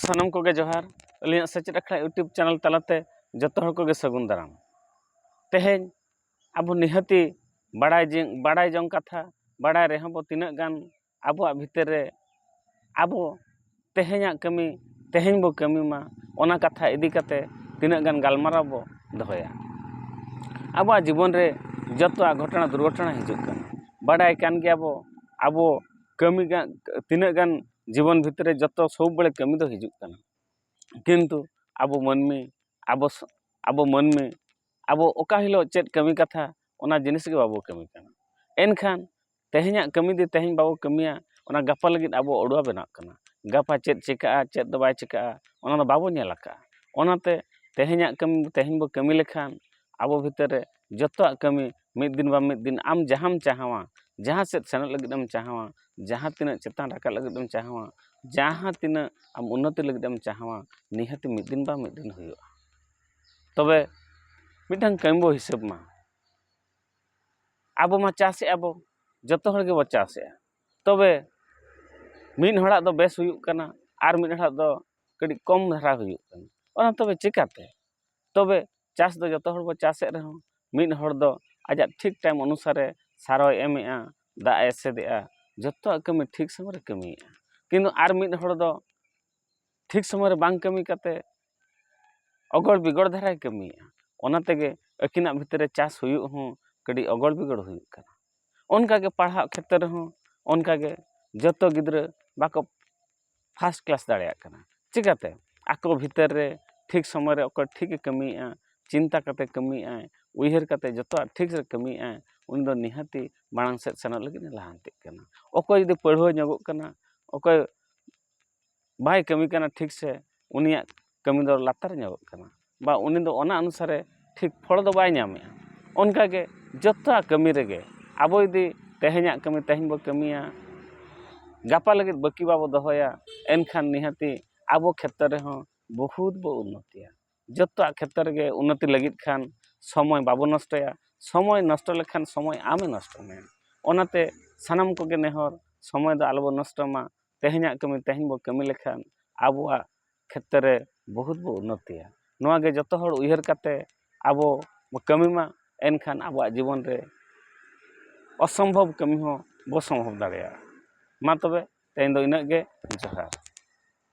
ᱥᱟᱱᱟᱢ ᱠᱚᱜᱮ ᱡᱚᱦᱟᱨ ᱟᱹᱞᱤᱧᱟᱜ ᱥᱮᱪᱮᱫ ᱟᱠᱷᱲᱟ ᱤᱭᱩᱴᱩᱵᱽ ᱪᱮᱱᱮᱞ ᱛᱟᱞᱟᱛᱮ ᱡᱚᱛᱚ ᱦᱚᱲ ᱠᱚᱜᱮ ᱥᱟᱹᱜᱩᱱ ᱫᱟᱨᱟᱢ ᱛᱮᱦᱮᱧ ᱟᱵᱚ ᱱᱤᱦᱟᱹᱛᱤ ᱵᱟᱲᱟᱭ ᱡᱤᱝ ᱵᱟᱲᱟᱭ ᱡᱚᱝ ᱠᱟᱛᱷᱟ ᱵᱟᱲᱟᱭ ᱨᱮᱦᱚᱸ ᱵᱚ ᱛᱤᱱᱟᱹᱜ ᱜᱟᱱ ᱟᱵᱚᱣᱟᱜ ᱵᱷᱤᱛᱟᱹᱨ ᱨᱮ ᱟᱵᱚ ᱛᱮᱦᱮᱧᱟᱜ ᱠᱟᱹᱢᱤ ᱛᱮᱦᱮᱧ ᱵᱚ ᱠᱟᱹᱢᱤ ᱢᱟ ᱚᱱᱟ ᱠᱟᱛᱷᱟ ᱤᱫᱤ ᱠᱟᱛᱮ ᱛᱤᱱᱟᱹᱜ ᱜᱟᱱ ᱜᱟᱞᱢᱟᱨᱟᱣ ᱵᱚ ᱫᱚᱦᱚᱭᱟ ᱟᱵᱚᱣᱟᱜ ᱡᱤᱵᱚᱱ ᱨᱮ ᱡᱚᱛᱚᱣᱟᱜ ᱜᱷᱚᱴᱚᱱᱟ ᱫᱩᱨᱜᱷᱚᱴᱚᱱᱟ ᱦᱤᱡᱩᱜ ᱠᱟᱱᱟ ᱵᱟᱰᱟᱭ ᱠᱟᱱ ᱜᱮᱭᱟ ᱵᱚ ᱟᱵᱚ ᱠᱟᱹᱢᱤ ᱜᱟᱱ ᱛᱤᱱᱟᱹᱜ ᱜᱟᱱ ᱡᱤᱵᱚᱱ ᱵᱷᱤᱛᱨᱤ ᱨᱮ ᱡᱚᱛᱚ ᱥᱚᱵ ᱵᱟᱲᱮ ᱠᱟᱹᱢᱤ ᱫᱚ ᱦᱤᱡᱩᱜ ᱠᱟᱱᱟ ᱠᱤᱱᱛᱩ ᱟᱵᱚ ᱢᱟᱹᱱᱢᱤ ᱟᱵᱚ ᱟᱵᱚ ᱢᱟᱹᱱᱢᱤ ᱟᱵᱚ ᱚᱠᱟ ᱦᱤᱞᱳᱜ ᱪᱮᱫ ᱠᱟᱹᱢᱤ ᱠᱟᱛᱷᱟ ᱚᱱᱟ ᱡᱤᱱᱤᱥ ᱜᱮ ᱵᱟᱵᱚ ᱠᱟᱹᱢᱤ ᱠᱟᱱᱟ ᱮᱱᱠᱷᱟᱱ ᱛᱮᱦᱮᱧᱟᱜ ᱠᱟᱹᱢᱤ ᱫᱚ ᱛᱮᱦᱮᱧ ᱵᱟᱵᱚ ᱠᱟᱹᱢᱤᱭᱟ ᱚᱱᱟ ᱜᱟᱯᱟ ᱞᱟᱹᱜᱤᱫ ᱟᱵᱚ ᱚᱰᱩᱣᱟ ᱵᱮᱱᱟᱜ ᱠᱟᱱᱟ ᱜᱟᱯᱟ ᱪᱮᱫ ᱪᱤᱠᱟᱹᱜᱼᱟ ᱪᱮᱫ ᱫᱚ ᱵᱟᱭ ᱪᱤᱠᱟᱹᱜᱼᱟ ᱚᱱᱟ ᱫᱚ ᱵᱟᱵᱚ ᱧᱮᱞ ᱟᱠᱟᱫᱼᱟ ᱚᱱᱟᱛᱮ ᱛᱮᱦᱮᱧᱟᱜ ᱠᱟᱹᱢᱤ ᱛᱮᱦᱮᱧ ᱵᱚ ᱠᱟᱹᱢᱤ ᱞᱮᱠᱷᱟᱱ ᱟᱵᱚ ᱵᱷᱤᱛᱨᱤ ᱨᱮ ᱡᱚᱛᱚᱣᱟᱜ ᱠᱟᱹᱢᱤ ᱢᱤᱫ ᱫᱤᱱ ᱵᱟᱝ ᱢᱤᱫ ᱫᱤᱱ ᱟᱢ ᱡᱟᱦᱟᱢ ᱪᱟᱦᱟᱣᱟ ᱡᱟᱦᱟᱸ ᱥᱮᱫ ᱥᱮᱱᱚᱜ ᱞᱟᱹᱜᱤᱫ ᱮᱢ ᱪᱟᱦᱟᱣᱟ ᱡᱟᱦᱟᱸ ᱛᱤᱱᱟᱹᱜ ᱪᱮᱛᱟᱱ ᱨᱟᱠᱟᱵ ᱞᱟᱹᱜᱤᱫ ᱮᱢ ᱪᱟᱦᱟᱣᱟ ᱡᱟᱦᱟᱸ ᱛᱤᱱᱟᱹᱜ ᱟᱢ ᱩᱱᱱᱚᱛᱤ ᱞᱟᱹᱜᱤᱫ ᱮᱢ ᱪᱟᱦᱟᱣᱟ ᱱᱤᱦᱟᱹᱛᱤ ᱢᱤᱫ ᱫᱤᱱ ᱵᱟᱝ ᱢᱤᱫ ᱫᱤᱱ ᱦᱩᱭᱩᱜᱼᱟ ᱛᱚᱵᱮ ᱢᱤᱫᱴᱟᱝ ᱠᱟᱹᱢᱤ ᱵᱚᱱ ᱦᱤᱥᱟᱹᱵᱽ ᱢᱟ ᱟᱵᱚ ᱢᱟ ᱪᱟᱥᱮᱜᱼᱟ ᱵᱚᱱ ᱡᱚᱛᱚ ᱦᱚᱲ ᱜᱮᱵᱚᱱ ᱪᱟᱥᱮᱜᱼᱟ ᱛᱚᱵᱮ ᱢᱤᱫ ᱦᱚᱲᱟᱜ ᱫᱚ ᱵᱮᱥ ᱦᱩᱭᱩᱜ ᱠᱟᱱᱟ ᱟᱨ ᱢᱤᱫ ᱦᱚᱲᱟᱜ ᱫᱚ ᱠᱟᱹᱴᱤᱡ ᱠᱚᱢ ᱫᱷᱟᱨᱟ ᱦᱩᱭᱩᱜ ᱠᱟᱱᱟ ᱚᱱᱟ ᱛᱚᱵᱮ ᱪᱤᱠᱟᱹᱛᱮ ᱛᱚᱵᱮ ᱪᱟᱥ ᱫᱚ ᱡᱚᱛᱚ ᱦᱚᱲ ᱵᱚ ᱪᱟᱥᱮᱫ ᱨᱮᱦᱚᱸ ᱢᱤᱫ ᱦᱚᱲ ᱫᱚ ᱟᱡᱟᱜ ᱴᱷᱤᱠ ᱴᱟᱭᱤᱢ ᱚᱱᱩᱥᱟᱨᱮ ᱥᱟᱨ ᱦᱚᱸᱭ ᱮᱢᱮᱫᱼᱟ ᱫᱟᱜ ᱮ ᱮᱥᱮᱫᱮᱜᱼᱟ ᱡᱚᱛᱚᱣᱟᱜ ᱠᱟᱹᱢᱤ ᱴᱷᱤᱠ ᱥᱚᱢᱚᱭ ᱨᱮ ᱠᱟᱹᱢᱤᱭᱮᱫᱼᱟ ᱠᱤᱱᱛᱩ ᱟᱨ ᱢᱤᱫ ᱦᱚᱲ ᱫᱚ ᱴᱷᱤᱠ ᱥᱚᱢᱚᱭ ᱨᱮ ᱵᱟᱝ ᱠᱟᱹᱢᱤ ᱠᱟᱛᱮᱫ ᱚᱜᱚᱲ ᱵᱤᱜᱚᱲ ᱫᱷᱟᱨᱟᱭ ᱠᱟᱹᱢᱤᱭᱮᱫᱼᱟ ᱚᱱᱟ ᱛᱮᱜᱮ ᱟᱹᱠᱤᱱᱟᱜ ᱵᱷᱤᱛᱤᱨ ᱨᱮ ᱪᱟᱥ ᱦᱩᱭᱩᱜ ᱦᱚᱸ ᱠᱟᱹᱴᱤᱡ ᱚᱜᱚᱲ ᱵᱤᱜᱚᱲ ᱦᱩᱭᱩᱜ ᱠᱟᱱᱟ ᱚᱱᱠᱟᱜᱮ ᱯᱟᱲᱦᱟᱜ ᱠᱷᱮᱛᱨᱮ ᱨᱮᱦᱚᱸ ᱚᱱᱠᱟᱜᱮ ᱡᱚᱛᱚ ᱜᱤᱫᱽᱨᱟᱹ ᱵᱟᱠᱚ ᱯᱷᱟᱥᱴ ᱠᱞᱟᱥ ᱫᱟᱲᱮᱭᱟᱜ ᱠᱟᱱᱟ ᱪᱤᱠᱟᱹᱛᱮ ᱟᱠᱚ ᱵᱷᱤᱛᱟᱹᱨ ᱨᱮ ᱴᱷᱤᱠ ᱥᱚᱢᱚᱭ ᱨᱮ ᱚᱠᱚᱭ ᱴᱷᱤᱠᱮ ᱠᱟᱹᱢᱤᱭᱮᱫᱼᱟ ᱪᱤᱱᱛᱟᱹ ᱠᱟᱛᱮᱫ ᱠᱟᱹᱢᱤᱭᱮᱫᱼᱟᱭ ᱩᱭᱦᱟᱹᱨ ᱠᱟᱛᱮᱫ ᱡᱚᱛᱚᱣᱟᱜ ᱴᱷᱤᱠ ᱨᱮ ᱠᱟᱹᱢᱤᱭᱮᱫᱼᱟᱭ ᱩᱱᱤ ᱫᱚ ᱱᱤᱦᱟᱹᱛᱤ ᱢᱟᱲᱟᱝ ᱥᱮᱫ ᱥᱮᱱᱚᱜ ᱞᱟᱹᱜᱤᱫ ᱮ ᱞᱟᱦᱟᱱᱛᱤᱜ ᱠᱟᱱᱟ ᱚᱠᱚᱭ ᱡᱩᱫᱤ ᱯᱟᱹᱲᱦᱟᱹ ᱧᱚᱜᱚᱜ ᱠᱟᱱᱟ ᱚᱠᱚᱭ ᱵᱟᱭ ᱠᱟᱹᱢᱤ ᱠᱟᱱᱟ ᱴᱷᱤᱠ ᱥᱮ ᱩᱱᱤᱭᱟᱜ ᱠᱟᱹᱢᱤ ᱫᱚ ᱞᱟᱛᱟᱨ ᱧᱚᱜᱚᱜ ᱠᱟᱱᱟ ᱵᱟ ᱩᱱᱤ ᱫᱚ ᱚᱱᱟ ᱚᱱᱩᱥᱟᱨᱮ ᱴᱷᱤᱠ ᱯᱷᱚᱞ ᱫᱚ ᱵᱟᱭ ᱧᱟᱢᱮᱜᱼᱟ ᱚᱱᱠᱟ ᱜᱮ ᱡᱚᱛᱚᱣᱟᱜ ᱠᱟᱹᱢᱤ ᱨᱮᱜᱮ ᱟᱵᱚ ᱡᱩᱫᱤ ᱛᱮᱦᱮᱧᱟᱜ ᱠᱟᱹᱢᱤ ᱛᱮᱦᱮᱧ ᱵᱚᱱ ᱠᱟᱹᱢᱤᱭᱟ ᱜᱟᱯᱟ ᱞᱟᱹᱜᱤᱫ ᱵᱟᱹᱠᱤ ᱵᱟᱵᱚᱱ ᱫᱚᱦᱚᱭᱟ ᱮᱱᱠᱷᱟᱱ ᱱᱤᱦᱟᱹᱛᱤ ᱟᱵᱚ ᱠᱷᱮᱛᱨᱮ ᱨᱮᱦᱚᱸ ᱵᱚᱦᱩᱫ ᱵᱚ ᱩᱱᱱᱚᱛᱤᱭᱟ ᱡᱚᱛᱚᱣᱟᱜ ᱠᱷᱮᱛᱨᱮ ᱨᱮᱜᱮ ᱩᱱᱱᱚᱛᱤ ᱞᱟᱹᱜᱤᱫ ᱠᱷᱟᱱ ᱥᱚᱢᱚᱭ ᱵᱟᱵᱚᱱ ᱱᱚᱥᱴᱚᱭᱟ ᱥᱚᱢᱚᱭ ᱱᱚᱥᱴᱚ ᱞᱮᱠᱷᱟᱱ ᱥᱚᱢᱚᱭ ᱟᱢᱮ ᱱᱚᱥᱴᱚ ᱢᱮᱭᱟ ᱚᱱᱟᱛᱮ ᱥᱟᱱᱟᱢ ᱠᱚᱜᱮ ᱱᱮᱦᱚᱨ ᱥᱚᱢᱚᱭ ᱫᱚ ᱟᱞᱚ ᱵᱚᱱ ᱱᱚᱥᱴᱚᱭ ᱢᱟ ᱛᱮᱦᱮᱧᱟᱜ ᱠᱟᱹᱢᱤ ᱛᱮᱦᱮᱧ ᱵᱚᱱ ᱠᱟᱹᱢᱤ ᱞᱮᱠᱷᱟᱱ ᱟᱵᱚᱣᱟᱜ ᱠᱷᱮᱛᱨᱮ ᱵᱚᱦᱩᱛ ᱵᱚ ᱩᱱᱱᱚᱛᱤᱭᱟ ᱱᱚᱣᱟ ᱜᱮ ᱡᱚᱛᱚ ᱦᱚᱲ ᱩᱭᱦᱟᱹᱨ ᱠᱟᱛᱮ ᱟᱵᱚ ᱵᱚ ᱠᱟᱹᱢᱤ ᱢᱟ ᱮᱱᱠᱷᱟᱱ ᱟᱵᱚᱣᱟᱜ ᱡᱤᱵᱚᱱ ᱨᱮ ᱚᱥᱚᱢᱵᱷᱚᱵ ᱠᱟᱹᱢᱤ ᱦᱚᱸ ᱵᱚ ᱥᱚᱢᱵᱷᱚᱵ ᱫᱟᱲᱮᱭᱟᱜᱼᱟ ᱢᱟ ᱛᱚᱵᱮ ᱛᱮᱦᱮᱧ ᱫᱚ ᱤᱱᱟᱹᱜ ᱜᱮ ᱡᱚᱦᱟᱨ